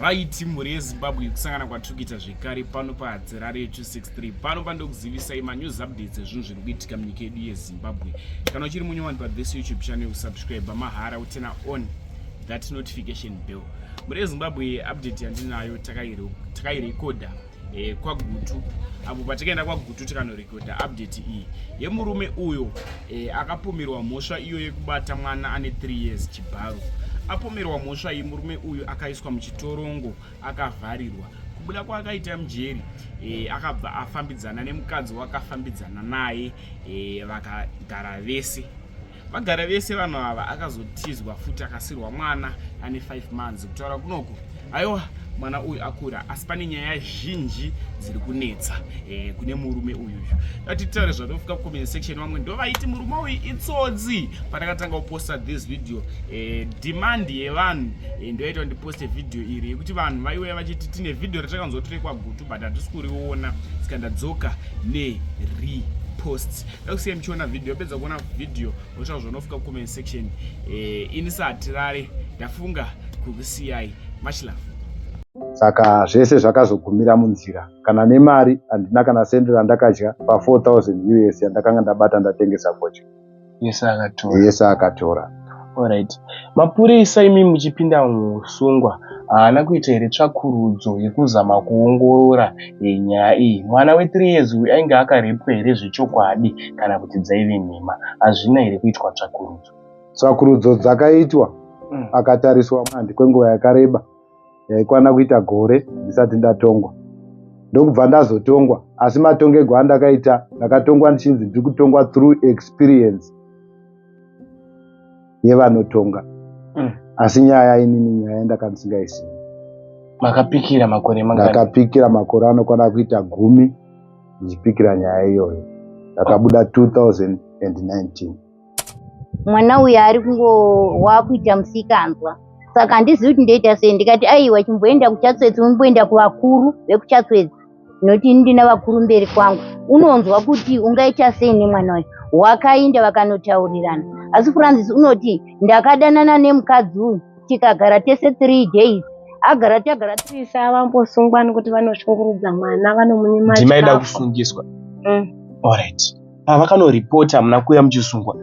right mhuri yezimbabwe kusangana kwatiri kuita zvekare pano pahadzi rari ye 263 pano pandokuzivisai manews updates ezvinhu zviri kuitika munyika yedu yezimbabwe kana uchiri munyowani pathis youtube channel kusubscribe mahara utena on that notification bell mhuri yezimbabwe update yandinayo takairekodha eh, kwagutu apo patikaenda kwagutu tikanorekodha update iyi yemurume uyo eh, akapomerwa mhosva iyo yekubata mwana ane 3 years chibharo apomerwa mhosva iyi murume uyu akaiswa muchitorongo akavharirwa kubuda kwaakaita mujeri e, akabva afambidzana nemukadzi wakafambidzana naye e, vakagara vese vagara vese vanhu ava akazotizwa futi akasirwa mwana ane 5 months kutaura kunoku aiwa mwana uyu akura asi pane nyaya zhinji dziri kunetsa e, kune murume uyu uyu atitaure zvatofika kucomment section vamwe ndovaiti murume uyu itsodzi pandakatanga kuposta this video e, demand yevanhu e, ndoyaita ndiposte video iri yekuti vanhu vaiuya vachiti tine video ratakanzwa tiri kwagutu but hatisi kuriona saka ndadzoka neripost xm chiona video pedza kuona video wotaura zvaunofika kucomment section eh, ini sahatirare ndafunga kukusiyai much love saka zvese zvakazogumira munzira kana nemari handina kana sendi randakadya pa 4000 us yandakanga ndabata ndatengesa gocha yese akatora Alright. Mapurisa imi muchipinda musungwa haana kuita here tsvakurudzo yekuzama kuongorora eh, nyaya iyi mwana wethree years uyu ainge akarepwa here zvechokwadi kana kuti dzaive nhema hazvina here kuitwa tsvakurudzo tsvakurudzo dzakaitwa mm. akatariswa mandi kwenguva yakareba yaikwana kuita gore ndisati ndatongwa ndokubva ndazotongwa asi matongerwo andakaita ndakatongwa ndichinzi ndiri kutongwa through experience yevanotonga mm. asi nyaya inini nyaya ndakandisingaizivi makapikira makore ndakapikira makore anokwana kuita gumi ndichipikira nyaya iyoyo ndakabuda 2019 mwana uyo ari kungo wakuita musikanzwa saka handizivi kuti ndoita sei ndikati aiwa chimboenda kuchatswedzi umboenda kuvakuru vekuchatswedzi noti ndina vakuru mberi kwangu unonzwa kuti ungaita sei nemwana uyu wakainda vakanotaurirana asi francis unoti ndakadanana nemukadzi uyu tikagara tese three days agara tagara tisa vambosungwa nekuti vanoshungurudza mwana vanomunyima ndimaida kusungiswa mm. alright pavakanoripota muna kuya muchisungwa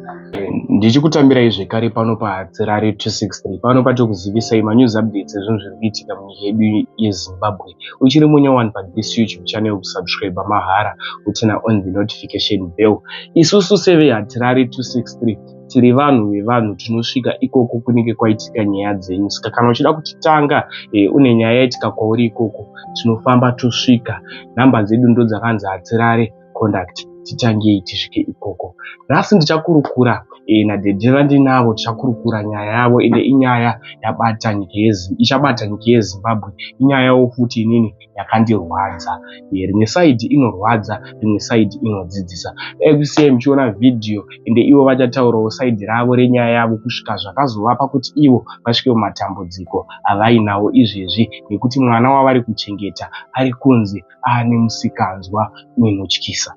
ndichikutambirai zvekare pano pahadzirari 263 pano patokuzivisai manews updates ezvinhu zviri kuitika munyika yedu yezimbabwe uchiri munya one padis youtube channel kusubscribe mahara utina on the notification bell isusu sevehadzirari 263 tiri vanhu vevanhu tinosvika ikoko kunenge kwaitika nyaya dzenyu saka kana uchida kutitanga e, une nyaya yaitika kwauri ikoko tinofamba tosvika nhamba dzedu ndodzakanzi hadzirare conduct titangei tisvike ikoko nhasi ndichakurukura e, nadedhe vandinavo tichakurukura nyaya yavo ende inyaya yabata nyika ichabata nyika yezimbabwe inyayawo futi inini yakandirwadza e, rimwe saidi inorwadza rimwe saidi inodzidzisa dai kusiya muchiona vhidhiyo ende ivo vachataurawo saidi ravo renyaya yavo kusvika zvakazovapa kuti ivo vasvike mumatambudziko avainawo izvezvi nekuti mwana wavari kuchengeta ari kunzi aane musikanzwa unotyisa.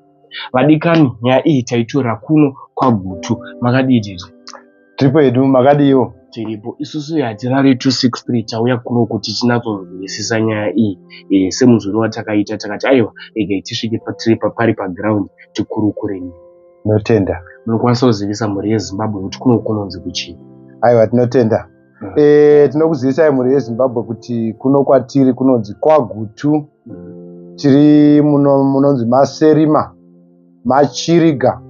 Vadikani, nyaya iyi taitora kuno kwaGutu. Makadii tete? Tiripo hedu, makadiiwo? Tiripo. Isusu hatirari 263 tauya kuno kuti tinatsohwisisa nyaya iyi. E, eh, semuzoro watakaita takati aiwa regai tisvike patiri papari paground tikurukure. Notenda. Munokwanisa kuzivisa mhuri yeZimbabwe kuti kuno kunonzi kuchii? Aiwa tinotenda. mm. e, tinokuzivisai mhuri yezimbabwe kuti kuno kwatiri kunonzi kwagutu mm. tiri muno munonzi maserima machiriga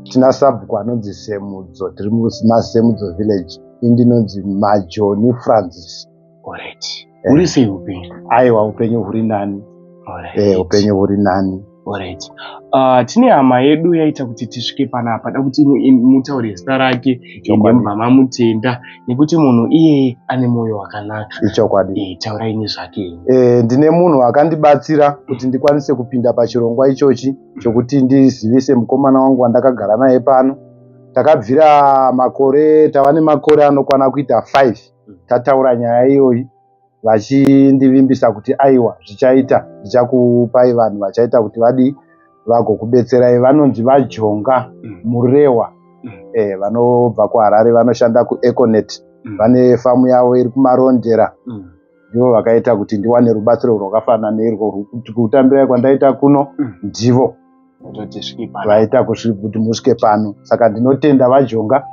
tina sabhuku anonzi semudzo tiri mumasemudzo village indinonzi majoni francis orit eh. uri sei upenyu aiwa upenyu huri nani eh, upenyu huri nani Alright. Uh, tine hama yedu yaita kuti tisvike panapa da kuti mutaure zita rake ndobva mamutenda nekuti munhu iyeye ane mwoyo wakanaka ichokwadi e, taurai nezvake e, ndine munhu akandibatsira kuti ndikwanise kupinda pachirongwa ichochi chokuti ndizivise mukomana wangu wandakagara naye pano takabvira makore tava nemakore anokwana kuita 5 tataura nyaya iyoyi vachindivimbisa kuti aiwa zvichaita ndichakupai vanhu vachaita kuti vadii vagokubetserai vanonzi vajonga mm. murewa mm. eh, vanobva kuharare vanoshanda kueconet mm. vane famu yavo iri kumarondera ndivo vakaita kuti ndiwane rubatsiro rwakafanana neirwo kutambirai kwandaita kuno ndivo vaita kuti musvike pano saka ndinotenda vajonga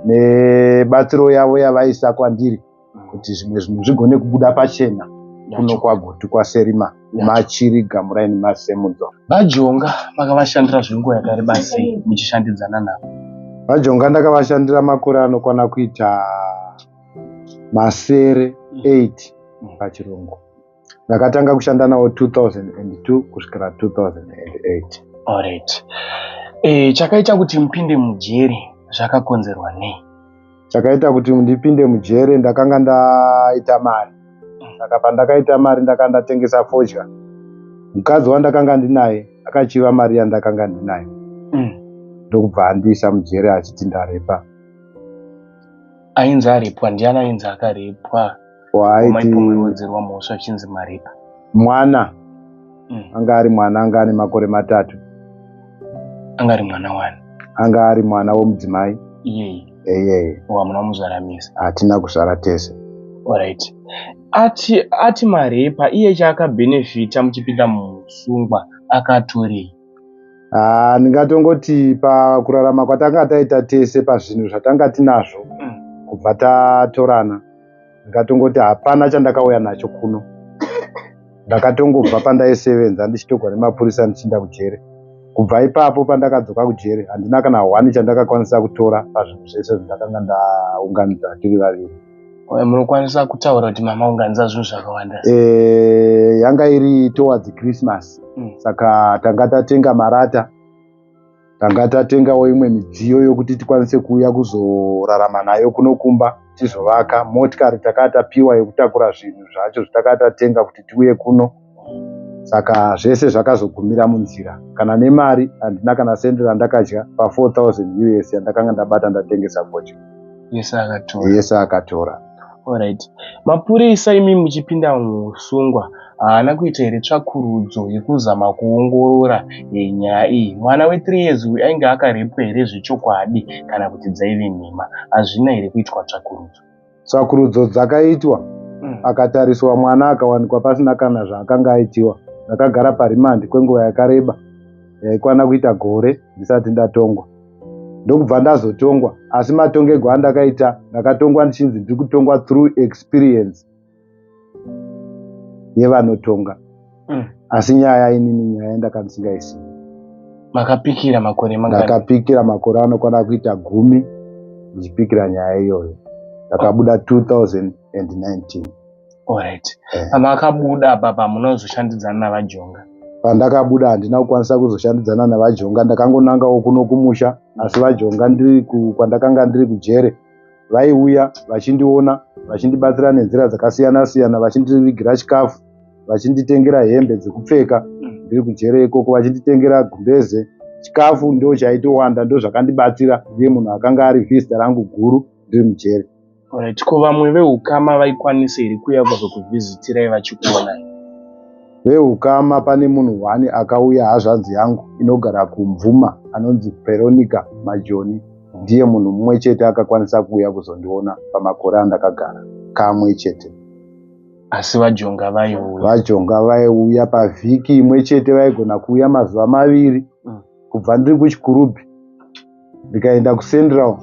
nebatsiro yavo yavaisa kwandiri kuti zvimwe zvinhu zvigone kubuda pachena kuno kwagutu kwaserima machiri gamuraini masemudzo vajonga makavashandira zvenguva yakareba sei muchishandidzana navo vajonga ndakavashandira makore anokwana kuita masere 8 mm. pachirungu ndakatanga kushanda nawo 2002 kusvikira 2008 alright e, chakaita kuti mupinde mujeri zvakakonzerwa nei chakaita kuti ndipinde mujeri ndakanga ndaita mari saka pandakaita mari ndakanga ndatengesa fodya mukadzi wandakanga ndinaye akachiva mari yandakanga ndinayo mm. ndokubva mm. andiisa mujeri achiti ndarepa ainzi arepwa ndiani ainzi akarepwa waaiwedzerwa mhosva achinzi maripa mwana mm. anga ari mwana anga ane makore matatu anga ari mwana wani anga ari mwana womudzimai iyeye eyeye hamuna kumuzvara mese hatina kuzvara tese orit ati ati marepa iye chaakabhenefita muchipinda musungwa akatorei ah, ndingatongoti pakurarama kwatanga taita tese pazvinhu zvatanga tinazvo mm. kubva tatorana ndikatongoti hapana chandakauya nacho kuno ndakatongobva pandaisevenza ndichitogwa nemapurisa ndichiinda kujere kubva ipapo pandakadzoka kujere handina kana hwani chandakakwanisa kutora pazvinhu zvese zvandakanga ndaunganidza tiri vaviri munokwanisa kutaura kuti mama unganidza zvinhu zvakawanda eh, yanga iri towards christmas mm. saka tanga tatenga marata tanga tatengawo imwe midziyo yokuti tikwanise kuuya kuzorarama nayo kuno kumba tizovaka motikari takaa tapiwa yekutakura zvinhu zvacho zvatakaa tatenga kuti tiuye kuno saka zvese zvakazogumira munzira kana nemari handina kana sendi randakadya pa4000 us yandakanga ndabata ndatengesa gocha yese akatora Alright. Mapurisa imi muchipinda muhusungwa haana kuita here tsvakurudzo yekuzama kuongorora eh, nyaya iyi mwana we3 years uyu ainge akarepwa here zvechokwadi kana kuti dzaive nhema hazvina here kuitwa tsvakurudzo tsvakurudzo dzakaitwa mm. akatariswa mwana akawanikwa pasina kana zvaakanga aitiwa ndakagara parimandi kwenguva yakareba yaikwana kuita gore ndisati ndatongwa ndokubva ndazotongwa asi matongego andakaita ndakatongwa ndichinzi ndiri kutongwa through experience yevanotonga mm. asi nyaya inini nyaya yandakandisingaizi makapikira makore ndakapikira makore anokwana kuita gumi ndichipikira nyaya iyoyo ndakabuda 2019 Alright. Eh. Pamakabuda apa pamuna kuzoshandidzana navajonga. Pandakabuda handina kukwanisa kuzoshandidzana navajonga ndakangonangawo kuno kumusha asi vajonga ndiri kwandakanga ndiri kujere vaiuya vachindiona vachindibatsira nenzira dzakasiyana siyana vachindivigira chikafu vachinditengera hembe dzekupfeka mm. ndiri kujere ikoko vachinditengera gumbeze chikafu ndo chaitowanda ndo zvakandibatsira ndiye munhu akanga ari vhizita rangu guru ndiri mujere Alright, ko vamwe veukama vaikwanisa here kuuya kuzokuvhizitirai vachikuonai? Veukama pane munhu wani akauya hazvanzi yangu inogara kumvuma anonzi Veronica Majoni. Ndiye munhu mumwe chete akakwanisa kuuya kuzondiona pamakore andakagara kamwe chete. Asi vajonga vaiuya? Vajonga vaiuya pavhiki imwe chete vaigona kuuya mazuva maviri. Mm. kubva ndiri kuchikurubhi ndikaenda kucentral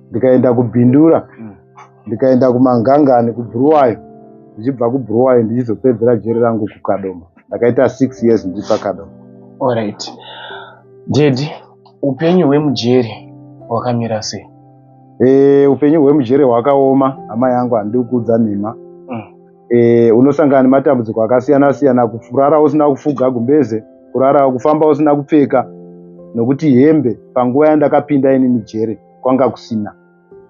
ndikaenda kubindura ndikaenda kumangangani kubhuruwayo ndichibva kubhuruwayo ndichizopedzera jeri rangu kukadoma ndakaita six years ndiri pakadoma orit dedi upenyu hwemujeri hwakamira sei e, upenyu hwemujeri hwakaoma hama yangu handikuudza nhema e, unosangana nematambudziko akasiyana siyana kurara usina kufuga gumbeze kurara kufamba usina kupfeka nokuti hembe panguva yandakapinda inini jere kwanga kusina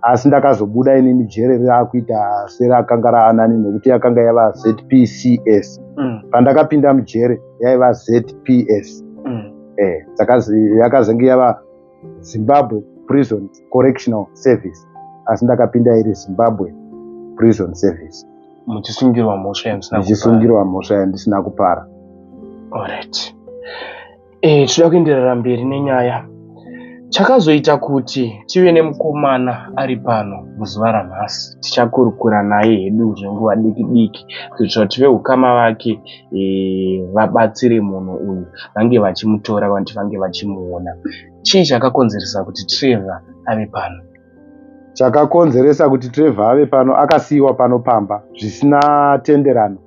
asi ndakazobuda inini jere raakuita serakanga raanani nokuti yakanga yava zpcs mm. pandakapinda mujere yaiva zpcs mm. e, yakazenge yava zimbabwe prison correctional service asi ndakapinda iri zimbabwe prison service muchisungirwa mhosva yandisinamuchisungirwa mhosva yandisina kupara orit e, eh, tinoda kuenderera mberi nenyaya chakazoita kuti tive nemukomana ari pano muzuva ranhasi tichakurukura naye hedu zvenguva diki diki kuitira tive ukama vake e, vabatsire munhu uyu vange vachimutora vanti vange vachimuona chii chakakonzeresa kuti trevor ave pano chakakonzeresa kuti trevor ave pano akasiyiwa pano pamba zvisina tenderano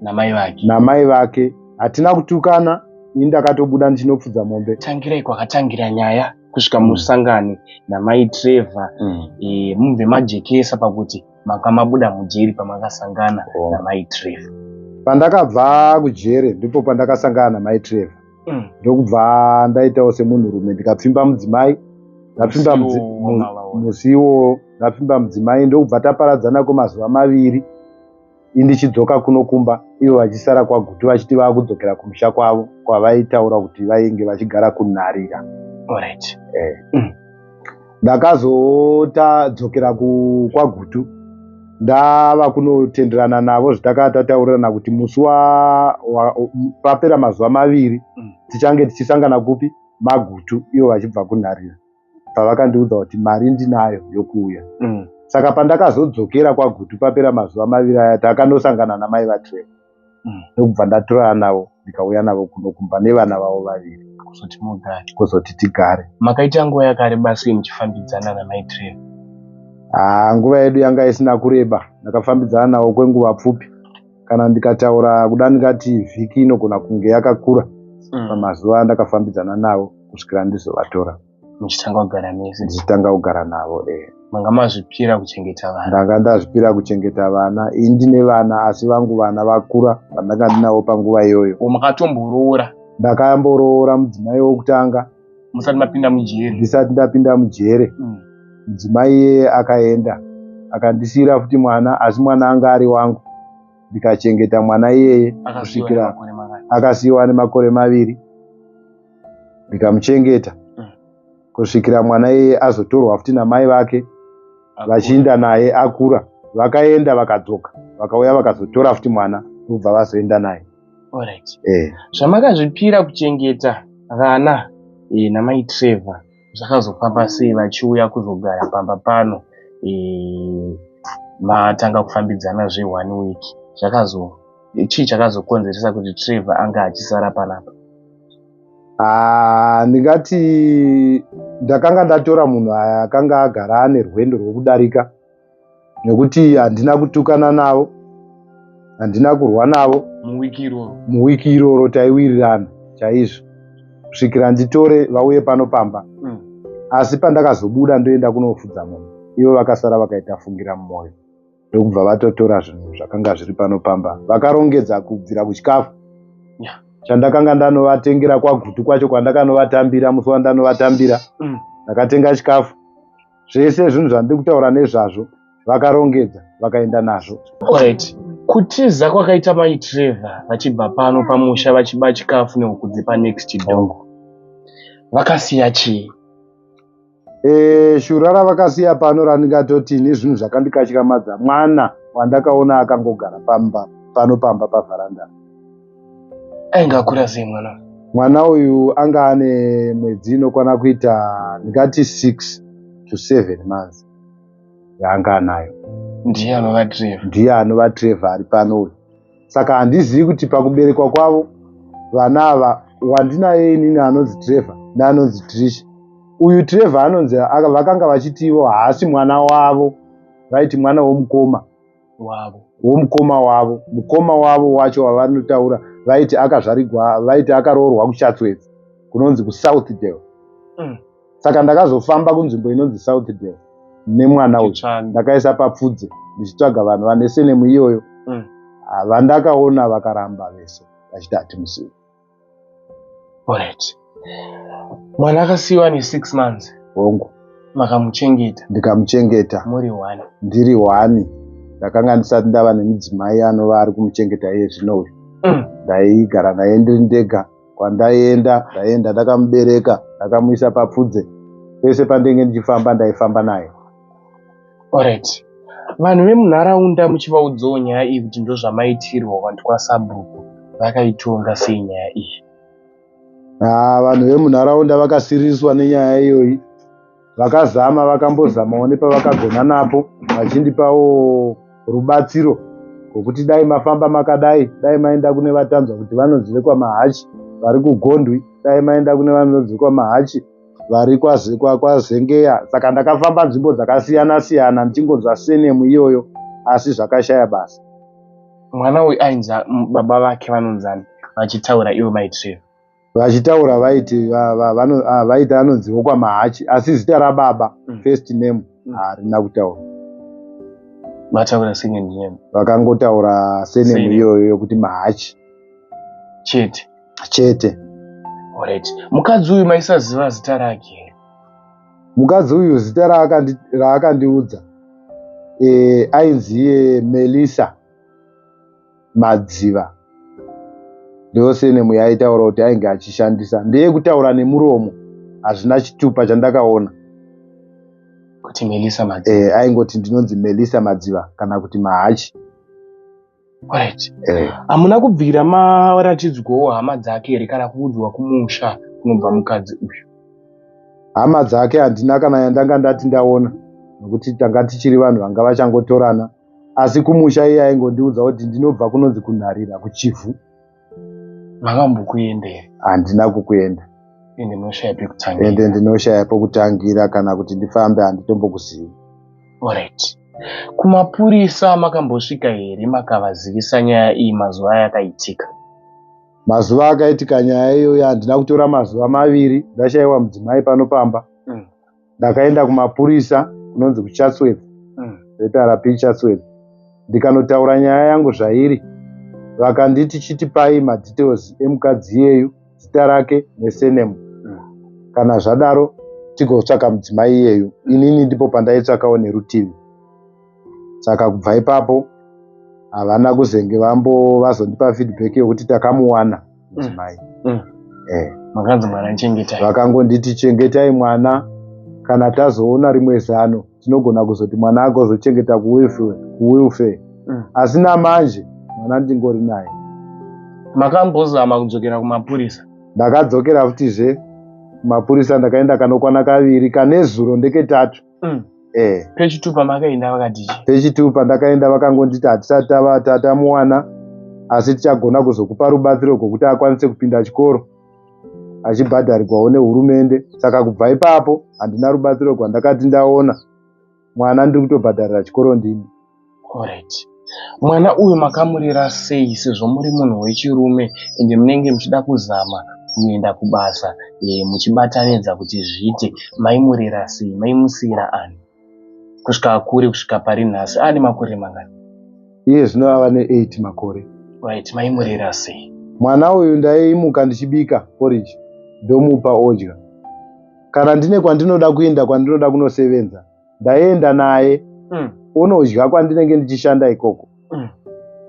namai vake namai vake hatina kutukana ini ndakatobuda ndichinopfudza mombe tangirai kwakatangira nyaya kusvika musangane namai trevor mm. e, mubve majekesa pakuti makamabuda mujeri pamakasangana oh. namai trevor pandakabva kujeri ndipo pandakasangana namai trevor mm. ndokubva mm. ndaitawo semunhurume ndikapfimba mudzimai ndapfimba musiwo ndapfimba mudzimai ndokubva taparadzana kwemazuva maviri indichidzoka kuno kumba ivo vachisara kwaguti vachiti vava kudzokera kumusha kwavo kwavaitaura kuti vainge vachigara kunharira right. eh. mm. ndakazotadzokera kwagutu ndava kunotenderana navo zvitakava tataurirana kuti musi papera mazuva maviri mm. tichange tichisangana kupi magutu ivo vachibva kunharira pavakandiudza kuti mari ndinayo yokuuya mm. saka pandakazodzokera kwagutu papera mazuva maviri aya takanosangana namai vatreva mm. ndokubva ndatorana navo ndikauya navo kuno kumba nevana vavo vaviri kuzoti mugare kuzoti tigare makaita nguva yakareba sei muchifambidzana namaitree haa ah, nguva yedu yanga isina kureba ndakafambidzana navo kwenguva pfupi kana ndikataura kuda ndingati vhiki inogona kunge yakakura mm. pamazuva andakafambidzana navo kusvikira ndizovatora muchitanga kugara mese ndichitanga kugara navo e eh. manga mazvipira kuchengeta vana ndanga ndazvipira kuchengeta vana ini ndine vana asi vangu vana vakura vandanga ndinavo panguva iyoyo makatomborora ndakamboroora mudzimai wokutanga musati mapinda mujere ndisati ndapinda mujere mm. mudzimai iyeye akaenda akandisiyira futi mwana asi mwana anga ari wangu ndikachengeta mwana iyeye kusvikira akasiyiwa nemakore maviri ndikamuchengeta mm. kusvikira mwana iye azotorwa futi namai vake vachiinda naye akura vakaenda vakadzoka vakauya vakazotora futi mwana ndokubva vazoenda naye eh. zvamakazvipira kuchengeta vana eh, namai trevor zvakazofamba sei vachiuya kuzogara pamba pano eh, matanga kufambidzana zve one week zvakazo chii chakazokonzeresa kuti trevor anga achisara panapa ah, ndingati ndakanga ndatora munhu aya akanga agara ane rwendo rwekudarika nekuti handina kutukana navo handina kurwa navo muwiki iroro taiwirirana chaizvo kusvikira nditore vauye pano pamba mm. asi pandakazobuda ndoenda kunofudza munhu ivo vakasara vakaita fungira mumwoyo ndokubva vatotora zvinhu zvakanga zviri pano pamba vakarongedza kubvira kuchikafu yeah. chandakanga ndanovatengera kwagutu kwacho kwandakanovatambira musi wandanovatambira mm. ndakatenga chikafu zvese zvinhu zvandiri kutaura nezvazvo vakarongedza vakaenda nazvo right. kutiza kwakaita mai trevor vachibva pano pamusha vachiba chikafu nehuku dzepa next dog vakasiya chii e, shura ravakasiya pano randingatoti ini zvinhu zvakandikatyamadza mwana wandakaona akangogara pamba pano pamba pavharanda ainge akura sei mwana mwana uyu anga ane mwedzi inokwana kuita ndingati six to seven months yaanga anayo ndiye anova trevha ndiye anova trevha ari pano uyu saka handizivi kuti pakuberekwa kwavo vana ava wandinaye inini anonzi trevha neanonzi trisha uyu trevha anonzi vakanga vachiti ivo haasi mwana wavo vaiti mwana womukoma wavo womukoma wavo mukoma wavo wacho wavanotaura vaiti akazvarigwa vaiti akaroorwa kuchatswedzi kunonzi kusouthdale mm. saka ndakazofamba kunzvimbo inonzi southdale nemwana uyu ndakaisa papfudze ndichitsvaga vanhu vane senemu iyoyo mm. Ah, vandakaona vakaramba vese vachiti hatimuzivi Alright. Mwana akasiiwa ane six months. Hongu. Makamuchengeta. Ndikamuchengeta. Muri one. Ndiri one. Ndakanga ndisati ndava nemudzimai anova ari kumuchengeta iye zvino uyu. Mm. Ndaigara naye ndiri ndega. Kwandaienda ndaienda ndakamubereka ndakamuisa papfudze. Pese pandenge ndichifamba ndaifamba naye. Alright. Vanhu vemunharaunda muchivaudzawo nyaya iyi kuti ndozvamaitirwa vantu kwasabhuku vakaitonga sei nyaya iyi? Ah, vanhu vemunharaunda vakasiriswa nenyaya iyoyi vakazama vakambozamawo nepavakagona napo vachindipawo rubatsiro rwokuti dai mafamba makadai dai maenda kune vatanzwa kuti vanonzi vekwamahachi vari kugondwi dai maenda kune vanonzi vekwamahachi vari kwazengeya kwa, kwa saka ndakafamba nzvimbo dzakasiyana siyana ndichingonzwa senemu iyoyo asi zvakashaya basa mwana uyu ainzi baba vake vanonzani vachitaura ivo maitreva vachitaura vaiti vaiti anonzi wokwamahachi asi zita rababa mm. first name mm. harina mm. kutaura vataura second name vakangotaura senemu iyoyo yokuti mahachi chete chete Alright. Mukadzi uyu maisaziva zita rake here? Mukadzi uyu zita raakandiudza eh, ainzi iye Melissa Madziva ndosenemu yaitaura kuti ainge achishandisa ndeye kutaura nemuromo hazvina chitupa chandakaona kuti Melissa Madziva eh, aingoti ndinonzi Melissa Madziva kana kuti Mahachi Right. Eh. Hamuna kubvira maratidzwawo hama dzake here kana kuudzwa kumusha kunobva mukadzi uyu? Hama dzake handina kana yandanga ndati ndaona nokuti tanga tichiri vanhu vanga vachangotorana asi kumusha iye aingondiudza kuti ndinobva kunonzi kunharira kuchivhu. makambokuenda here handina kukuenda ende ndinoshaya pekutangira ende ndinoshaya pekutangira kana kuti ndifambe handitombokuzivi orit kumapurisa makambosvika here makavazivisa nyaya iyi mazuva ayakaitika mazuva akaitika nyaya iyoyo handina kutora mazuva maviri ndashaiwa mudzimai pano pamba ndakaenda kumapurisa kunonzi kuchatsworth mm. zrp chatsworth ndikanotaura nyaya yangu zvairi vakanditi chitipai madetails emukadzi iyeyu zita rake nesenemu mm. kana zvadaro tigotsvaka mudzimai iyeyu inini ndipo pandaitsvakawo nerutivi saka kubva ipapo havana kuzenge vambo vazondipa feedback yokuti takamuwana mudzimai mm. mm. eh. makanzi mwana chengetai vakangonditi chengetai mwana kana tazoona rimwe zano tinogona kuzoti mwana ake ozochengeta kuwilfare mm. asi namanje mwana ndingori naye makambozama kudzokera kumapurisa ndakadzokera futizve kumapurisa ndakaenda kanokwana kaviri kane zuro ndeketatu mm. eh. pechitupa makaenda vakati pechitupa ndakaenda vakangonditi hatisati tava tatamuwana asi tichagona kuzokupa rubatsiro rwokuti akwanise kupinda chikoro achibhadharirwawo nehurumende saka kubva ipapo handina rubatsiro rwandakati ndaona mwana ndiri kutobhadharira chikoro ndini Alright. Mwana uyu makamurera sei sezvo muri munhu wechirume ende munenge muchida kuzama kuenda kubasa e, muchibatanidza kuti zviite maimurera sei maimusiira ani kusvika akure kusvika pari nhasi ane makore mangani iye zvino ava ne8 makore right maimurera sei mwana uyu ndaimuka ndichibika porridge ndomupa odya kana ndine kwandinoda kuenda kwandinoda kunosevenza ndaienda naye mm. onodya kwandinenge ndichishanda ikoko mm.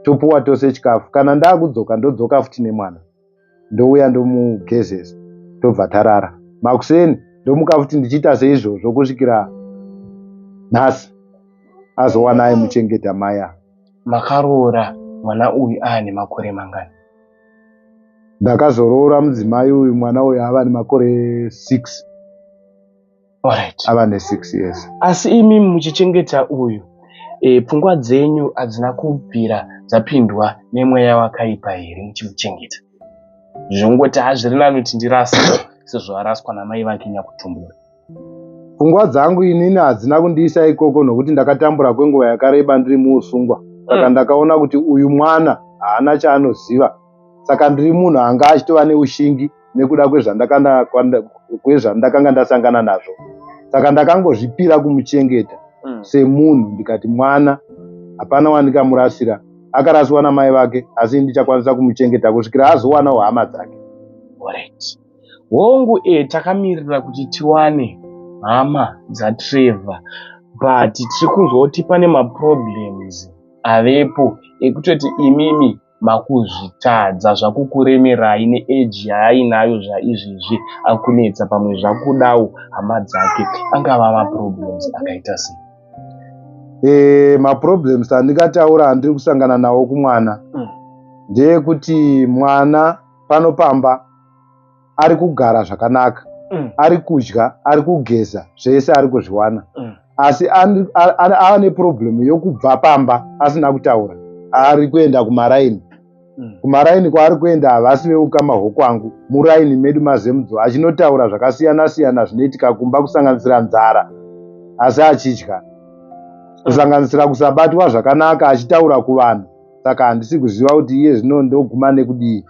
topuwa tose chikafu kana ndakudzoka ndodzoka futi nemwana ndouya ndomugezesa tobva tarara makuseni ndomuka futi ndichiita seizvozvo kusvikira nhasi azowana aimuchengeta maya makaroora mwana uyu aane makore mangani ndakazoroora mudzimai uyu mwana uyu ava nemakore six Alright. Ava ne 6 years. Asi imi muchichengeta uyu e, pfungwa dzenyu hadzina kubvira dzapindwa nemweya wakaipa here muchimuchengeta? Zvongoti hazviri nani kuti ndirasa sezvo araswa namai vake nyakutumbura. Pfungwa dzangu inini hadzina kundiisa ikoko nokuti ndakatambura kwenguva yakareba ndiri muusungwa. Saka mm. ndakaona kuti uyu mwana haana chaanoziva saka ndiri munhu anga achitova neushingi nekuda kwezvandakanga ndasangana nazvo saka ndakangozvipira kumuchengeta mm. semunhu ndikati mwana hapana wandikamurasira akarasiwa namai vake asi ndichakwanisa kumuchengeta kusvikira azowanawo hama dzake hongu e eh, takamirira kuti tiwane hama dzatrevor but tiri kunzwa kuti pane maproblems avepo ekutoti imimi makuzvitadza zvakukuremerai neeji yaainayo zvaizvezvi akunetsa pamwe zvakudawo hama dzake angava maproblems akaita sei e, maproblems andingataura andiri kusangana nawo kumwana mm. ndeyekuti mwana pano pamba ari kugara zvakanaka mm. ari kudya ari kugeza zvese ari kuzviwana mm. asi ava neprobhemu yokubva pamba asina kutaura ari kuenda kumaraini mm. kumaraini kwaari kuenda havasi veukama hwokwangu muraini medu mazemudzo achinotaura zvakasiyana siyana zvinoitika kumba kusanganisira nzara asi achidya kusanganisira kusabatwa zvakanaka achitaura kuvanhu saka handisi kuziva kuti iye zvino ndoguma nekudii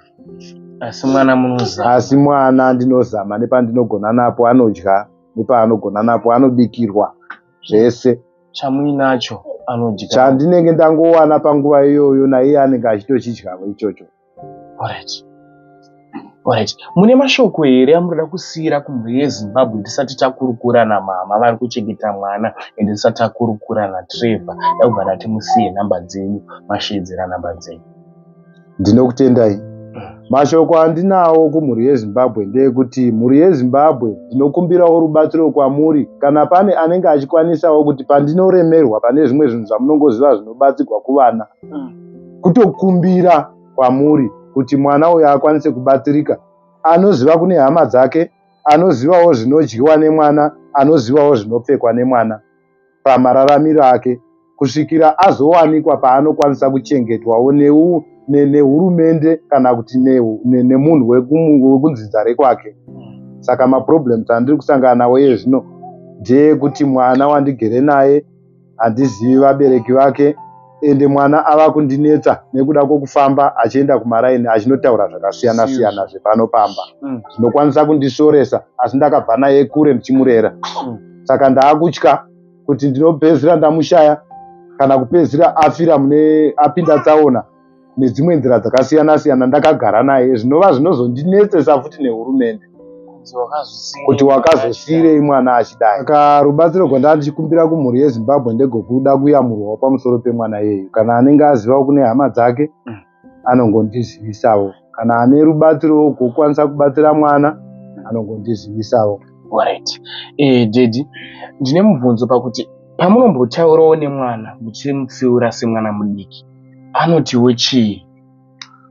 asi mwana munozama asi mwana ndinozama nepandinogona napo anodya nepaanogona napo anobikirwa zvese chamuinacho anodya chandinenge ndangowana panguva iyoyo naiye anenge achitochidyavo ichocho Alright. Alright. mune mashoko here amunoda kusiyira kumhuri yezimbabwe tisati takurukura namama vari kuchengeta mwana ende tisati takurukura natrevor dakubva ndati musiye nhamba dzenyu mashedzera nhamba dzenyu ndinokutendai mashoko andinawo kumhuri yezimbabwe ndeyekuti mhuri yezimbabwe ndinokumbirawo rubatsiro kwamuri kana pane anenge achikwanisawo kuti pandinoremerwa pane zvimwe zvinhu zvamunongoziva zvinobatsirwa kuvana kutokumbira kwamuri kuti mwana uyo akwanise kubatsirika anoziva kune hama dzake anozivawo zvinodyiwa nemwana anozivawo zvinopfekwa nemwana pamararamiro ake kusvikira azowanikwa paanokwanisa kuchengetwawo neu nehurumende ne kana kuti nemunhu ne wekunzinza rekwake saka maproblems andiri kusangana nawo iye zvino ndeyekuti mwana wandigere naye handizivi vabereki vake ende mwana ava kundinetsa nekuda kwokufamba achienda kumaraini achinotaura zvakasiyana siyana zvepano pamba mm. zvinokwanisa kundishoresa asi ndakabva naye kure ndichimurera mm. saka ndaakutya kuti ndinopedzisira ndamushaya kana kupedzisira afira mune apinda tsaona nedzimwe nzira dzakasiyana siyana ndakagara naye zvinova zvinozondinetsesa futi nehurumende kuti wakazosiyirei mwana achidai saka rubatsiro gwandava ndichikumbira kumhuri yezimbabwe ndegokuda kuyamurwawo pamusoro pemwana yeyu kana anenge azivawo kune hama dzake mm. anongondizivisawo kana ane rubatsiro wokukwanisa kubatsira mwana anongondizivisawo right eh, dedi ndine mubvunzo pakuti pamunombotaurawo nemwana muchimutsiura semwana mudiki anotiwo chii?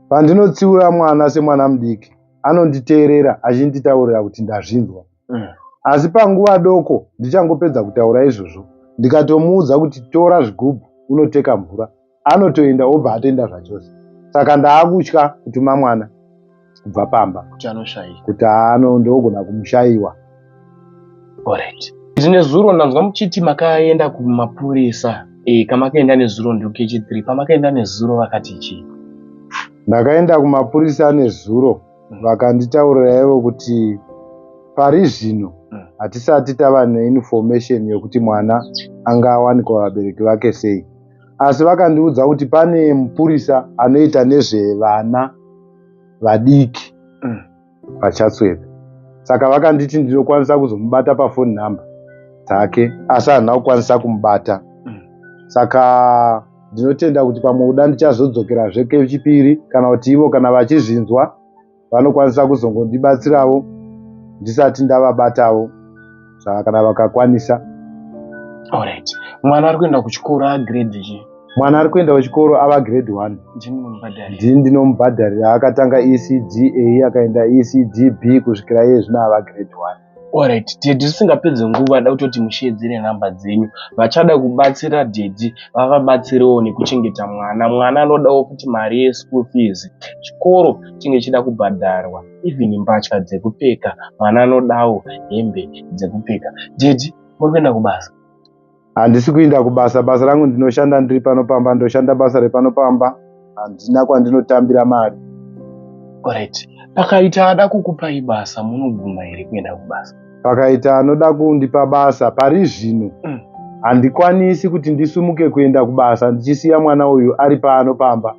Pandinotsiura mwana semwana mudiki, anonditeerera achinditaurira kuti ndazvinzwa. Mm. Asi panguva doko ndichangopedza kutaura izvozvo, ndikatomuudza kuti tora zvigubhu unoteka mvura, anotoenda obva atenda zvachose. Saka ndaakutya kutuma mwana. kubva pamba kuti anoshayiwa kuti ano ndogona kumushayiwa alright izi nezuro ndanzwa muchiti makaenda kumapurisa e, kamakaenda nezuro ndokh three pamakaenda nezuro vakati chii ndakaenda kumapurisa nezuro mm. vakanditaurira ivo kuti pari zvino mm. hatisati tava neinformation yekuti mwana anga awanikwa vabereki vake sei asi vakandiudza kuti pane mupurisa anoita nezvevana vadiki mm. vachatswedza saka vakanditi ndinokwanisa kuzomubata pafoni nhamba dzake asi handina kukwanisa kumubata mm. saka ndinotenda kuti pamwe kuda ndichazodzokerazve kechipiri kana kuti ivo kana vachizvinzwa vanokwanisa kuzongondibatsiravo ndisati ndavabatavo saka kana vakakwanisa alright mwana ari kuenda kuchikoro agrade chii mwana ari kuenda kuchikoro ava grade one ndini ndinomubhadharira akatanga ecda akaenda ecdb kusvikira iye zvino ava grade one orit tedi zvisingapedze nguva da kutoti musheedzere nhamba dzenyu vachada kubatsira dedi vavabatsirewo nekuchengeta mwana mwana anodawo kuti mari yeschool fees chikoro chinge chida kubhadharwa even mbatya dzekupfeka mwana anodawo hembe dzekupfeka jeji muri kuenda kubasa handisi kuinda kubasa basa rangu ndinoshanda ndiri pano pamba ndoshanda basa repano pamba handina kwandinotambira mari orit pakaita ada kukupai basa munobvuma here kuenda kubasa pakaita anoda kundipa basa pari zvino mm. handikwanisi kuti ndisumuke kuenda kubasa ndichisiya mwana uyu ari pano pamba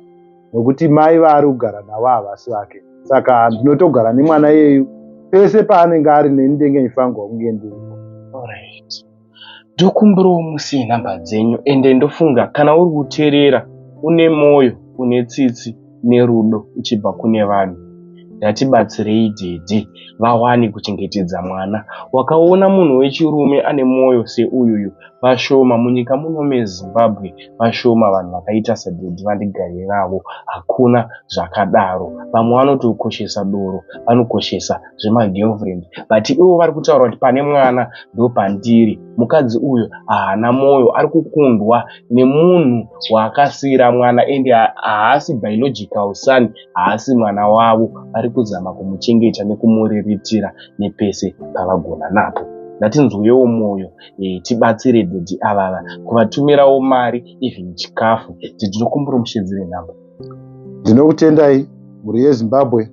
nokuti mai vaari kugara navo havasi vake saka ndinotogara nemwana yeyu pese paanenge ari neni ndenge ndifanirwa kunge ndiripo right ndokumbirawo musi nhamba dzenyu ende ndofunga kana uri kuteerera une mwoyo une tsitsi nerudo uchibva kune vanhu ngatibatsirei dede vawane kuchengetedza mwana wakaona munhu wechirume ane mwoyo seuyuyu vashoma munyika muno mezimbabwe vashoma vanhu vakaita sadhedhi vandigarire navo hakuna zvakadaro vamwe vanoti kukoshesa doro vanokoshesa zvemagirlfriend but ivo vari kutaura kuti pane mwana ndopandiri mukadzi uyo haana mwoyo ari kukundwa nemunhu waakasiira mwana ende haasi biological son haasi mwana wavo vari kuzama kumuchengeta nekumuriritira nepese pavagona napo ngatinzwewo mwoyo e, tibatsire daddy avava kuvatumirawo mari even chikafu titinokumbira mushedzere number ndinokutendai mhuri yezimbabwe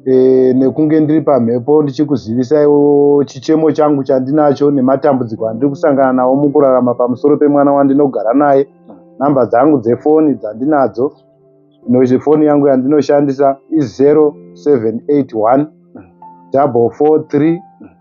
e, nekunge ndiri pamhepo ndichikuzivisaiwo chichemo changu chandinacho nematambudziko andiri kusangana nawo mukurarama pamusoro pemwana wandinogara naye nhamba dzangu dzefoni dzandinadzo foni yangu yandinoshandisa i 0781 double four three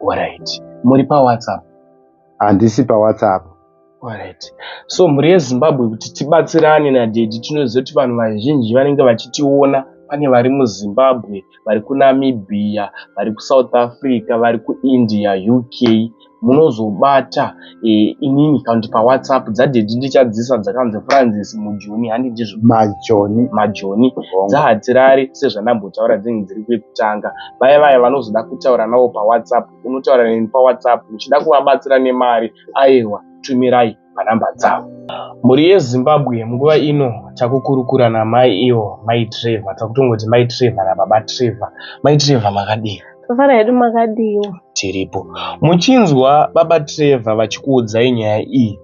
Alright. Muri pa WhatsApp? Handisi pa WhatsApp. Alright. So mhuri yeZimbabwe kuti tibatsirane na daddy tinoziva kuti vanhu vazhinji vanenge vachitiona pane vari muZimbabwe, vari kuNamibia, vari kuSouth Africa, vari kuIndia, UK munozobata e, inini kandi pawhatsapp dzadhedhi ndichadzisa dzakanzi francis mujoni handi ndizvo majoni majoni dzahatirari sezvandambotaura dzinge dziri kwekutanga vaya vaya vanozoda kutaura navo pawhatsapp unotaura neni pawhatsapp uchida kuvabatsira nemari aiwa tumirai panhamba dzavo mhuri yezimbabwe munguva ino takukurukura namai ivo mai trevor takutongoti mai trevor nababa trevor mai trevor makadii Tofara hedu makadiwo. Tiripo. Muchinzwa baba Trevor vachikuudzai nyaya iyi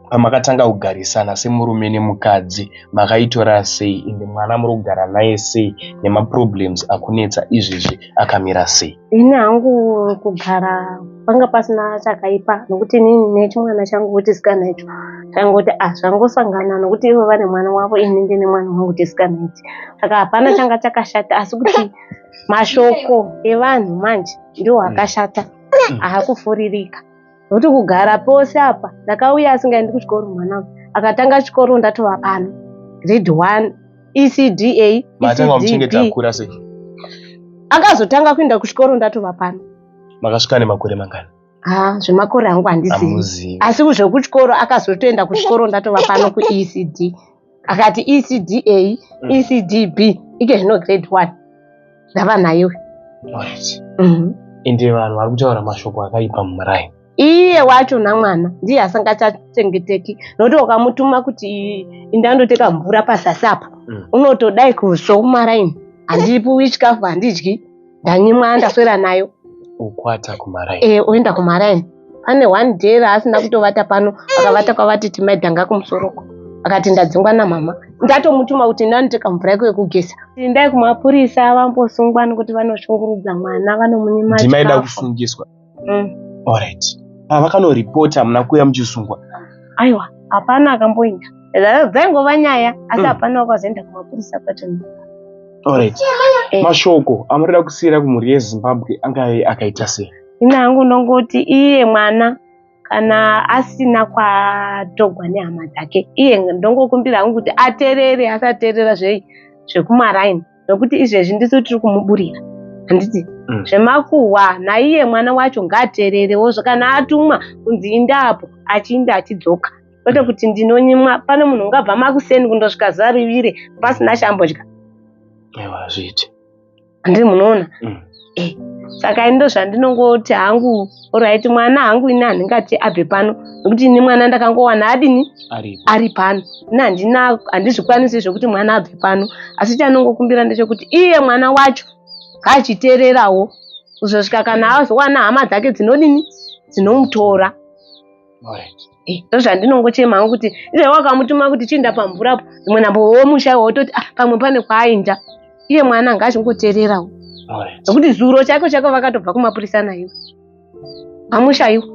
pamakatanga kugarisana semurume nemukadzi makaitora sei ende mwana muri kugara naye sei nemaproblems akunetsa izvezvi akamira sei ini hangu kugara panga pasina chakaipa nokuti ini nechimwana changu wetisikana icho changoti ah zvangosangana nokuti ivo vane mwana wavo ini ndine mwana wangu tisikana ichi saka hapana changa chakashata asi kuti mashoko evanhu manje ndiwo hmm. akashata hmm. ahakufuririka nokuti kugara pose apa ndakauya asingaendi kuchikoro mwana akatanga chikoro ndatova pano grade one ecda ecdb akazotanga kuenda kuchikoro ndatova pano makasvika nemakore mangani ha zvemakore angu handizivi asi zvekuchikoro akazotoenda kuchikoro ndatova pano kuecd akati ecda mm. ecdb ike zvino grade one ndava nayo mhm. ende vanhu vari kutaura mashoko akaipa mumuraini iye wacho namwana ndiye asingachachengeteki nokuti ukamutuma kuti indandoteka mvura pasasi apo mm. unotodai kuzva kumaraini handipuwi chikafu handidyi ndanyimwa ndaswera nayo ukwata kumaraini e, eh, oenda kumaraini pane one day raasina kutovata pano akavata kwavati timaidhanga kumusoroko akati ndadzingwa namama ndatomutuma kuti ndanotoka mvura yako yekugeza tindai kumapurisa vambosungwa nokuti vanoshungurudza mwana vanomunyima ndimaida kusungiswa mm. alright ah, vakanoripota hamuna kuuya muchisungwa aiwa hapana akamboenda dzaingova nyaya asi mm. hapana wakazoenda kumapurisa kwacho alright eh. mashoko amurida kusiyira kumhuri yezimbabwe angae akaita sei ini hangu ndongoti iye mwana kana asina kwatogwa nehama dzake iye ndongokumbira hangu kuti aterere asaterera zvei zvekumaraini nokuti izvezvi ndisu tiri kumuburira handiti mm. zvemakuhwa naiye mwana wacho ngaateererewo kana atumwa kunzi inda apo achiinda achidzoka kwete kuti ndinonyimwa pane munhu ungabva makuseni kundosvika zuva rivire pasina chambodya hazviiti handii munoona mm. eh, saka ini ndozvandinongoti hangu orit mwana hangu ini handingati abve pano nokuti ini mwana ndakangowana adini ari pano ini handina handizvikwanisi zvekuti mwana abve pano asi chanongokumbira ndechekuti iye mwana wacho ngaachiteererawo kuzosvika kana azowana hama dzake dzinodini dzinomutora right. Eh, ndozvandinongochema hangu kuti iye wakamutuma kuti chiinda pamvura apo imwe nambo womusha wototi ah, pamwe pane kwaainda iye mwana anga achingoteererawo nokuti zuro chako chako vakatobva kumapurisa naiwe amushaiwo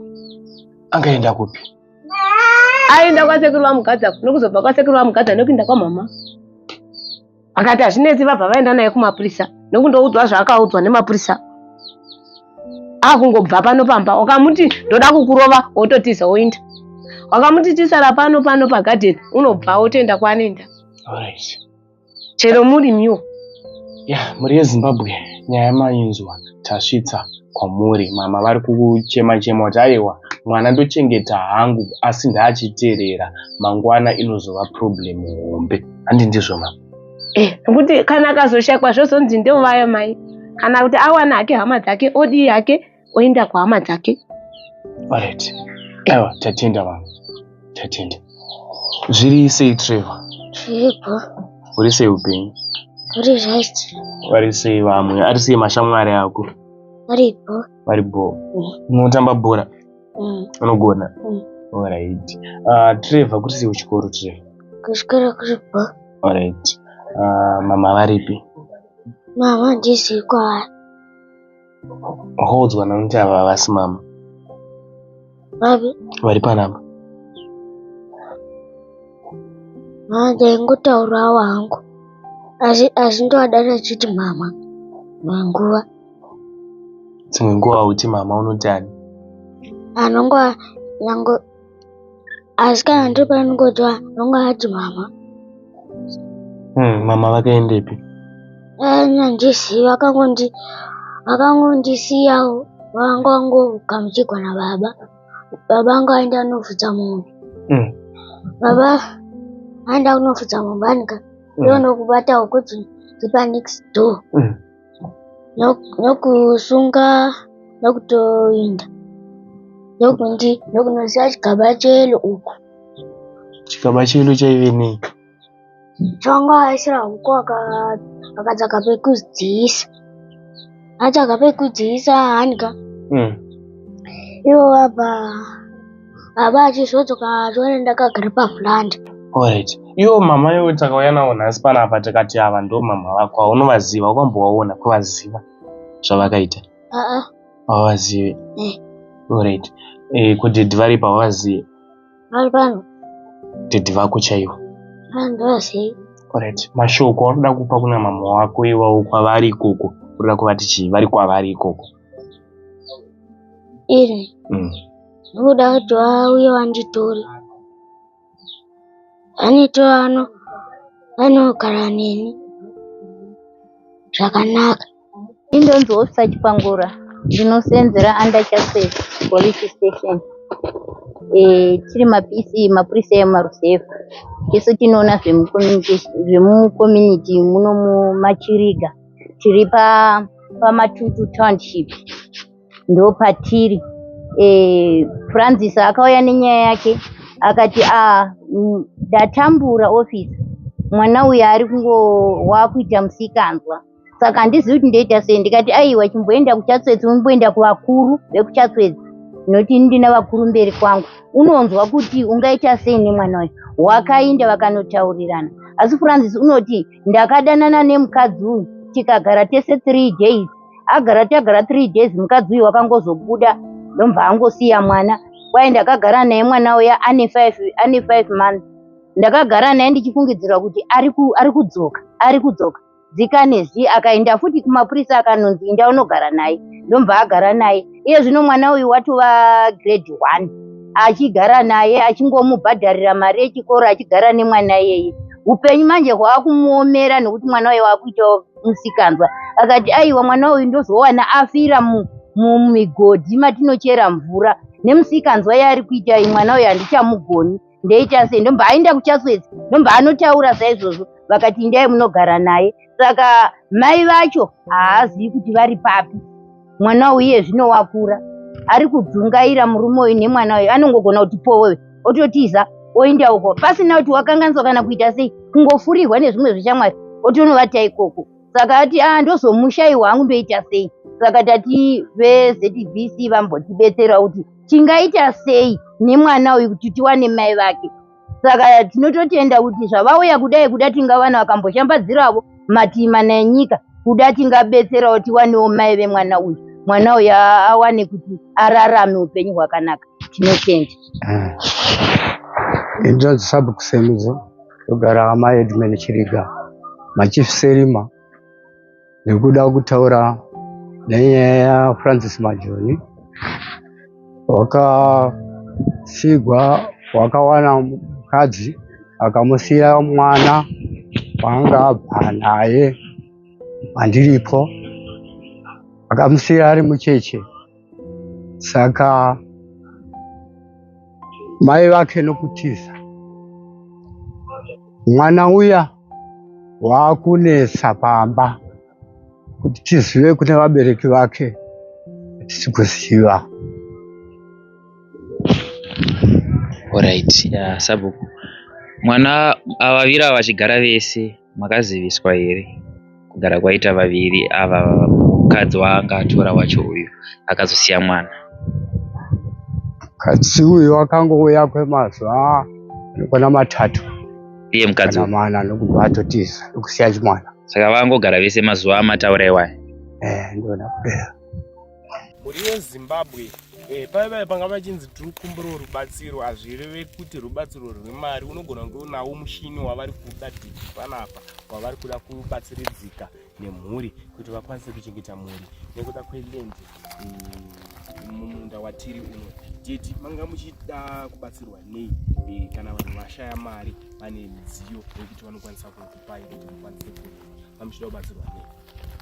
angaenda kupi aenda kwasekuru vamugadza nokuzobva kwasekuru vamugadza nokuinda kwamama akati hazvinetsi vabva vaenda naye kumapurisa nekundoudzwa zvaakaudzwa nemapurisa akungobva pano pamba wakamuti ndoda kukurova wototiza woinda wakamuti tisara pano pano pagadeni unobva wotoenda kwaanoenda chero muri miwo ya mhuri yezimbabwe nyaya mainzwa tasvitsa kwamuri mama vari kuchema chema kuti aiwa mwana ndochengeta hangu asi ndaachiteerera mangwana inozova problem hombe handi ndizvo mama eh kuti kana akazoshakwa zvozonzi ndovaya mai kana kuti awana hake hama dzake odii yake oenda kuhama dzake orit aiwa tatenda mama tatenda zviri sei trevor zviripo uri sei upenyu uri right vari sei vamwe ari sei mashamwari ako varipo vari bho mm. munotamba bhora Mm. Unogona? Mm. Alright. Uh, Trevor, kuti sei kuchikoro Trevor? Kuchikoro kuri bho. Alright. Uh, mama varipi? Mama ndisi kwavari. Wakaudzwa nakuti ava havasi mama? Vapi? Vari panapa. Mama ndaingotaurawo hangu. Asi asi ndovadana chiti mama. Manguva. dzimwe nguva uti mama unotani anonga yango asi kana ndiri panongodzwa anonga ati mama hmm, mama vakaendepi anyandiziva eh, akangondi vakangondisiyawo vanga vangogamuchigwa nababa baba anga aenda anofudza mombe mm. baba aenda kunofudza mombe anika mm. ndonokubatawo kuti ndipa next door mm. nokusunga nokutoinda nokundi nokunoziva chigaba chelo uku chigaba chelo chaive nei chonga aisira huku akatsaka pekudziisa atsaka pekudziisa hanika hmm. ivo vabva baba achizodzoka atore ndakagara pavhurandi Alright. Iwo mama iwe takauya nawo nhasi panapa tikati ava ndo mama vako aunovaziva ukambovaona kuvaziva zvavakaita aa havazive Eh. Alright. Eh, kudhedhi vari pavazive vari pano dhedhi vako chaivo andovazii Alright. mashoko aunoda kupa kuna mama wako iwawo kwavari ikoko unoda kuvati chii vari kwavari ikoko iri mm. ndokuda kuti vauye vanditore vanito vano vanogara neni zvakanaka indonzi ofisa chipangura ndinosenzera under chasef police station eh, tiri mapisi mapurisa emarusevha isu tinoona zvemucommunity muno mumachiriga tiri pamatutu township ndo patiri e, eh, francis akauya nenyaya yake akati a ah, mm, ndatambura office mwana uyu ari kungo wakuita musikanzwa saka handizivi kuti ndoita sei ndikati aiwa chimboenda kuchatswedzi umboenda kuvakuru vekuchatswedzi noti ndina vakuru mberi kwangu unonzwa kuti ungaita sei nemwana uyu wakainda vakanotaurirana asi francis unoti ndakadanana nemukadzi uyu tikagara tese three days agara tagara three days mukadzi uyu wakangozobuda ndomva angosiya mwana kwaye ndakagara naye mwana uya ane five ane five months ndakagara naye ndichifungidzirwa kuti ari kudzoka ari kudzoka zikane zi akaenda futi kumapurisa akanonzi inda unogara naye ndomva agara naye iye zvino mwana uyu watova grade one achigara naye achingomubhadharira mari yechikoro achigara nemwana iyeye upenyu manje hwaakumuomera nekuti mwana uye waakuita musikanzwa akati aiwa mwana uyu ndozowana afira mumigodhi matinochera mvura nemusikanzwa yaari kuita iyi mwana uyu handichamugoni ndeichasei ndomba ainda kuchaswedzi ndomba anotaura saizvozvo vakati indai munogara naye saka mai vacho haazivi kuti vari papi mwana uye zvino wakura ari kudzungaira murume uyu nemwana uyu anongogona kuti powewe ototiza oinda uko pasina kuti wakanganiswa kana kuita sei kungofurirwa nezvimwe zveshamwari otonovata ikoko saka ati a ah, ndozomushayi wangu ndoita sei saka tati vezvc vambotibetsera kuti tingaita sei nemwana uyu kuti tiwane mai vake saka tinototenda kuti zvavauya kudai kuda tingavana vakamboshambadziravo matii mana enyika kuda tingabetserawo tiwanewo mai vemwana uyu mwana uyu awane kuti ararame upenyu hwakanaka tinotenda ah. inzvadzi sabukusemudzo Ndogara amai Edmund Chiriga machief Serima nekuda kutaura nenyaya yaFrancis Majoni wakasigwa wakawana mukadzi akamusiya mwana waanga abva naye andiripo akamusiya ari mucheche saka mai vake nokutiza mwana uya waakunetsa pamba kuti tizive kune vabereki vake tisi kuziva Alright, ya sabhuku. Mwana avavira vachigara vese. makaziviswa here kugara kwaita vaviri ava mukadzi waanga atora wacho uyu akazosiya mwana mukadzi uyu akangouya kwemazuva anokwana matatu iye mukadzi mana ndokubva atotiza ndokusiya chimwana saka vangogara vese mazuva amataura iwaya eh, ndona kupera mhuri yezimbabwe eh, paivaye panga vachinzi tiri kukumbirawo rubatsiro hazvireve kuti rubatsiro rwemari unogona kunge unawo mushini wavari kuda diki panapa wavari kuda kubatsiridzika nemhuri kuti vakwanise kuchengeta mhuri nekuda kwelendi eh, mumunda watiri uno teti manga muchida kubatsirwa nei eh, kana vanhu vashaya mari vane midziyo yekuti vanokwanisa kukupai kuti mukwanise kurima mamuchida kubatsirwa nei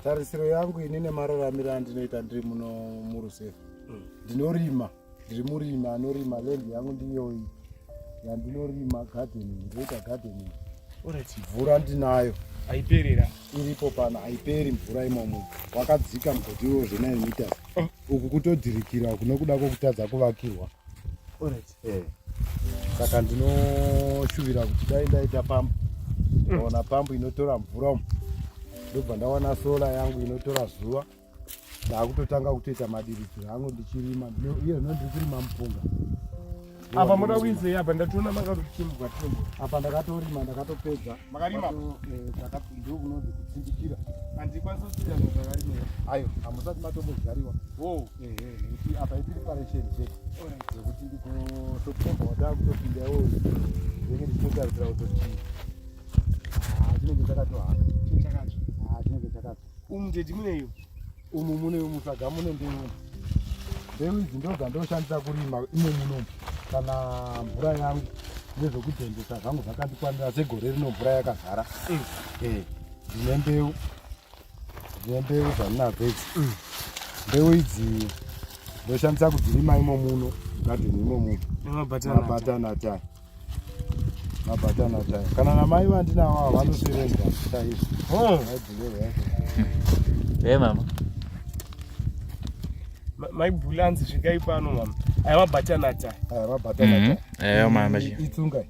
tarisiro yangu ini nemararamiro andinoita ndiri muno murusefa mm. ndinorima ndiri murimi anorima lendi yangu ndiyoyi yandinorima gardening ndoita gardening mvura ndinayo aiperera iripo pano aiperi mvura imomo wakadzika mugoti iwo zvenai meters oh. uku kutodhirikira kunokuda kwokutadza kuvakirwa orit eh, saka ndinoshuvira kuti dai ndaita pambu ndaona pambu inotora mvura umu ndobva ndawana sola yangu inotora zuva ndaakutotanga kutoita madiridziro angu ndichirima iye zvino ndiri kurima mupunga apa moda kuinzei apa ndatoona makatochimbwa timbo apa ndakatorima ndakatopedza ndokunonzi eh, kutsindikira handikwanisa kusiya zvakarima ayo hamusati matombodyariwa apa ipreparation check zvekuti kutokomba wataa kutopinda iwo zvinenge ndichitotarisira kutoti chinenge chakatohaka chinenge chakato umu teti muneyo umu mune musaga mune mbeu mbeu idzi ndodzandoshandisa kurima imo muno kana mvura yangu nezvekutengesa zvangu zvakandikwanira segore rino mvura yakazara ndine mbeu Dzine mbeu dzandinadzo idzi. Mm. Mbeu idzi ndoshandisa kudzirima imo muno gadheni imo muno. Mabatana ata. Mabatana ata. Kana namai vandinawo ava vanosevenza chaizvo. Oh. Hey mama. Mai Bulanzi svikai pano mama. Aya mabatana ata. Aya mabatana ata. Mm-hmm. Eyo mama. Itsungai.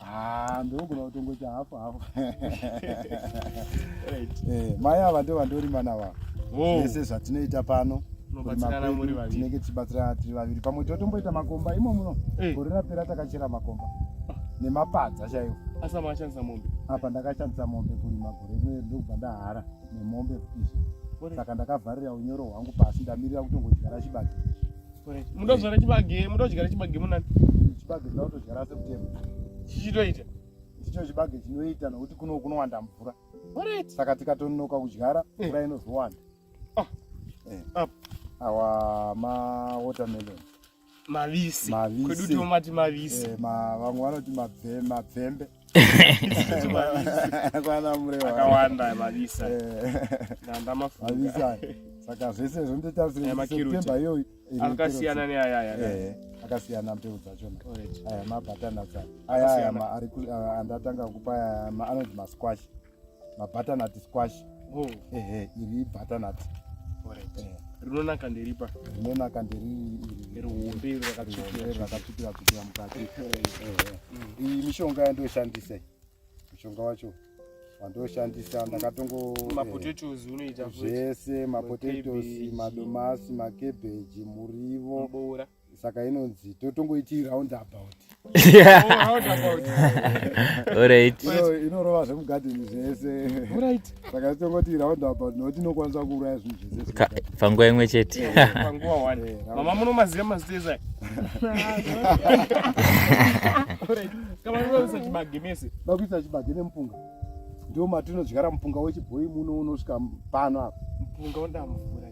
Ah, ndogona kutongoita hafu hafu eh, mai ava ndo vandorima nava vese zvatinoita pano tinenge tichibatsirana tiri vaviri pamwe totomboita makomba imo muno eh. gore rapera takachera makomba ah. nemapadza chaiwo apa ndakashandisa mombe kurima gore rino ndokubva ndahara nemombe saka ndakavharira unyoro hwangu pasi ndamirira kutongodyara chibati muda kuzvara chibage muda kudyara chibage munani chibage tinoda kutodyara septembe chichitoita ndicho chibage chinoita nokuti kuno kunowanda mvura saka tikatononoka kudyara eh. mvura inozowanda ah. eh. ah. awa mawatermelon mavisi kwedu tomati mavisi eh, vamwe vanoti mabvembe akawanda mavisa ndandamafuvisa saka zvese zvondotarisiremba iyoyi akasiyana neayaya eh, akasiyana mbeu dzachona aya mabatana sa aya andatanga kupa anonzi masquash mabutternut squash oh. ehe iri butternut eh. rinonaka nderipa rinonaka nderihombe rakatsvukira tsvukira mukati iyi mishonga yandoshandisa mushonga wacho wandoshandisa ndakatongozvese mapotatoes madomasi makebeji murivo saka inonzi totongoiti round about orit inorova zvemugadheni zvese orit saka tongoti round about nokuti inokwanisa kuuraya zvinhu zvese panguva imwe chete eh, eh, eh, mama munomaziva maziteza vakuisa chibage nemupunga ndo matinodyara mupunga wechibhoyi muno unosvika pano apa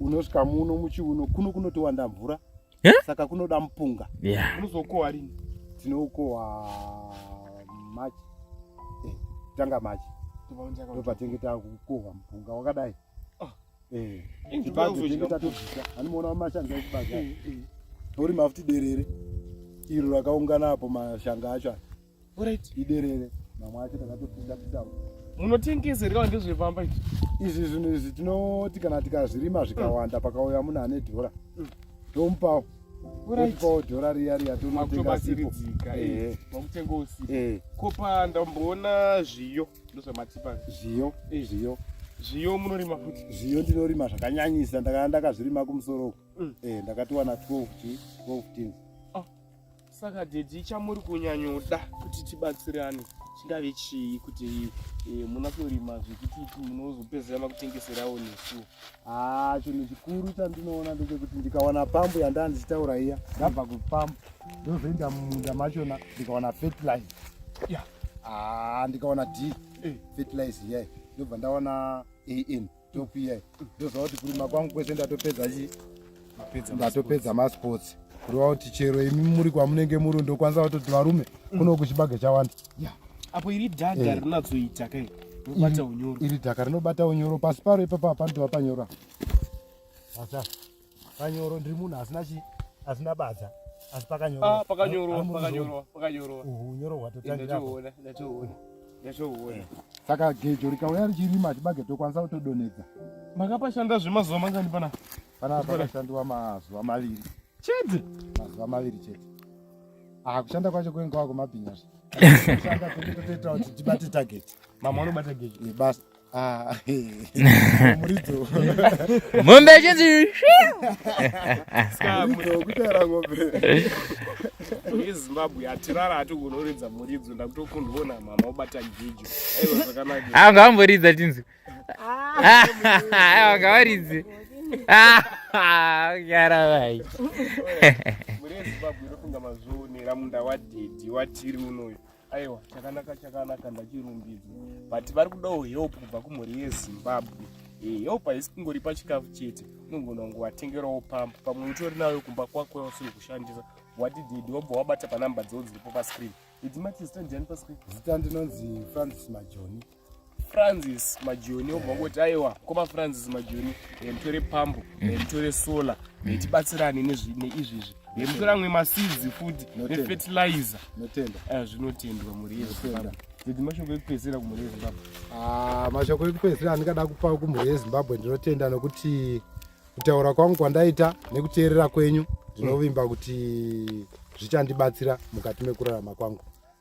unosvika muno muchiuno kuno kunotowanda mvura yeah? saka kunoda mupunga yeah. unozokohwa rini tinoukohwa machi eh, tanga machi ndopatinge takukohwa mupunga wakadai ah. eh, chibage tinge tatobvisa animoona wamashanga echibage eh, eh. tori mafuti derere iro rakaungana apo mashanga acho Alright. Iderere. Mama acho takatopinda kutau. Munotengesa here kana ndezvepamba izvi? Izvi zvinhu izvi tinoti kana tikazvirima zvikawanda mm. pakauya munhu ane dhora. Mm. Tomupawo. Alright. Tomupawo dhora riya riya tonotenga sipo. Eh. Makutenga usipo. Eh. Kopa ndamboona zviyo ndozvamatipa. Zviyo. Eh. Zviyo. Zviyo munorima futi. Zviyo ndinorima zvakanyanyisa ndakazvirima kumusoro. Mm. Eh ndakatiwana 12 12 tins. saka dedi chamuri kunyanyoda kuti tibatsirane chingave chii kuti eh, muna kurima zvekuti munozopedzera makutengeserawo nesu haa chinhu chikuru chandinoona ndechekuti ndikawana pambu yandaa ndichitaura iya ndabva kupambu ndozoenda mumunda machona ndikawana fertilize ya haa ndikawana d eh. fertilize iyai ndobva ndawana an topiyai ndoziva kuti kurima kwangu kwese ndatopedza chii ndatopedza masports kureva kuti chero imi muri kwamunenge muri ndokwanisa kutoti varume mm. kuno kuchibage chawanda apo iri dhadha eh. rinatsoita kai rinobata unyoro iri dhaka rinobata unyoro pasi paro ipapa hapandova panyora Panyoro ndiri munhu asina chi asina badza. Asi pakanyoro. Ah, pakanyoro, pakanyoro, pakanyoro. Unyoro hwatotangira. Ndatoona, ndatoona. Ndatoona. Saka gejo rikauya richirima chibage tokwanisa kutodonedza. Makapashanda zvemazuva mangani pana? Pana pakashandiwa mazuva maviri. Chete. Mazuva maviri chete. Ah, kushanda kwacho kwenga wako mabhinya. Kushanda kuti totoita kuti tibate target. Mama anobata gejo. Basa. Ah, mombe chinzi yezimbabwe hatirara hati kunoridza muridzo ndakutokundivona mama obata gejo aiwa zvakanaka anga vamboridza tinzi aiwa ngavaridzi yara vai mune zimbabwe inofunga mazvionera munda wadhedhi watiri unoyo aiwa chakanaka chakanaka ndachirumbidzwa but vari kudawo help kubva kumhuri yezimbabwe eh, help haisi kungori pachikafu chete unogona kunge watengerawo pambo pamwe utori nayo kumba kwako yausiri kushandisa wadididi wobva wabata panamba dzoo dziripo pascreen idzi mati zita ndiani pascreen zita ndinonzi francis majoni francis majoni obva kuti aiwa koma francis majoni nditore pambo nditore mm. solar nditibatsirane neizvizvi ndimtora amwe masidzi futi nefetilizer eh, zvinotendwa mhuri yezimbabwe dzidzi mashoko ekupedzisira kumhuri yezimbabwe ah, mashoko ekupedzisira andingada kupa kumhuri yezimbabwe ndinotenda nokuti kutaura kwangu kwandaita nekuteerera kwenyu ndinovimba kuti zvichandibatsira mukati mekurarama kwangu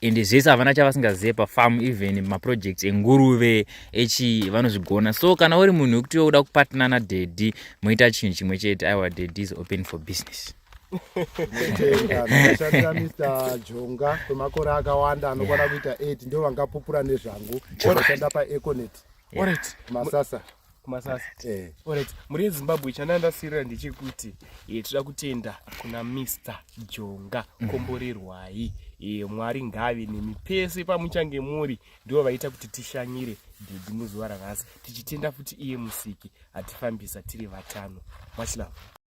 ende zvese havana chavasingazive pafarm even maprojects enguruve echi vanozvigona so kana uri munhu wekuti we uda kupatna nadhedhi moita chinhu chimwe chete aiwa dhedhi is open for business ndakashandira mr jonga kwemakore akawanda anokwana kuita 8 ndo vangapupura nezvangu ndashanda paeconet masasa kumasasa eh. orit mhuri yezimbabwe chanandasirira ndechekuti e, toda kutenda kuna mr jonga mm. komborerwai e, mwari ngave nemi pese pamuchange muri ndivo vaita kuti tishanyire dhedhi muzuva ranhasi tichitenda futi iye musiki atifambisa tiri vatano much love